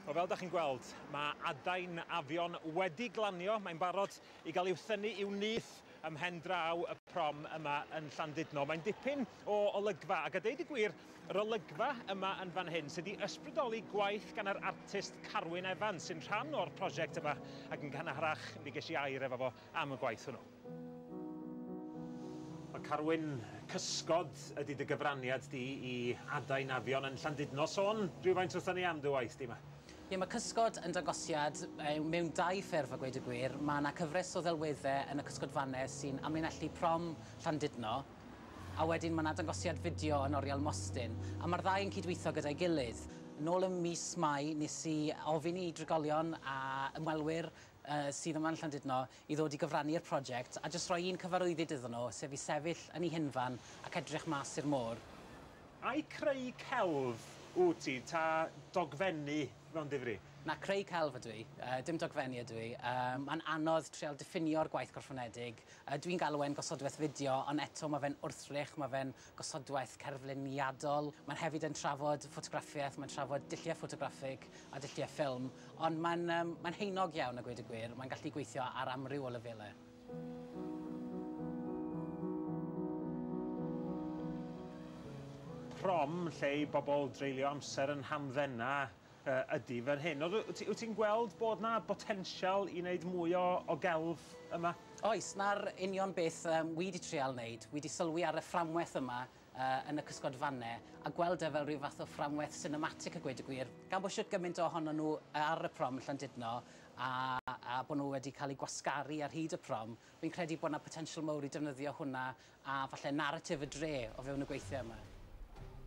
Wel, fel da chi'n gweld, mae adain afion wedi glanio. Mae'n barod i gael i'w thynnu i'w nyth ym mhen draw y prom yma yn Llandudno. Mae'n dipyn o olygfa, ac a deud y gwir, yr olygfa yma yn fan hyn sydd wedi ysbrydoli gwaith gan yr artist Carwyn Evans, sy'n rhan o'r prosiect yma, ac yn gynharach mi ges i air efo fo am y gwaith hwnnw. O Carwyn, cysgod ydy dy gyfraniad di i adain afion yn Llandudno. Sôn rhywfaint wrthon ni am dy waith di 'ma. Ie, mae cysgod yn dangosiad mewn dau ffurf a gweud y gwir. Mae yna cyfres o ddelweddau yn y cysgodfannau sy'n amlinellu prom Llandudno, a wedyn mae yna dangosiad fideo yn Oriel Mostyn, a mae'r ddau yn cydweithio gyda'i gilydd. Nôl ym mis Mai nes i ofyn i drigolion a ymwelwyr sydd yma yn Llandudno i ddod i gyfrannu i'r prosiect a jyst rhoi un cyfarwyddyd iddyn nhw, sef i sefyll yn ei hunfan ac edrych mas i'r môr. Ai creu celf wyt ti ta dogfennu mewn difri? Na, creu celf ydw i, dim dogfennu ydw i. Mae'n anodd trial diffinio'r gwaith gwrthfynedig. Dwi'n galw e'n gosodweth fideo ond eto mae fe'n wrthrych, mae fe'n gosodwaith cerfluniadol, mae'n hefyd yn trafod ffotograffiaeth, mae'n trafod dulliau ffotograffig a dulliau ffilm, ond mae'n um, mae'n heinog iawn a gweud y gwir, mae'n gallu gweithio ar amryw o lefelau. prom lle i bobl dreulio amser yn hamddenau Yy, ydy, fan hyn. Ond w- wt ti'n gweld bod 'na botensial i wneud mwy o, o gelf yma? Oes, 'na'r union beth yym wi 'di trial wneud. Wi 'di sylwi ar y fframweth yma yy yn y cysgodfanne, a gweld e fel rhyw fath o fframweth sinematic a gweud y gwir, gan bod shwt gymaint o honon nhw ar y prom yn Llandudno, a a bod nhw wedi cael eu gwasgaru ar hyd y prom, fi'n credu bod 'na potensial mowr i defnyddio hwnna a falle naratif y dre o fewn y gweithie yma.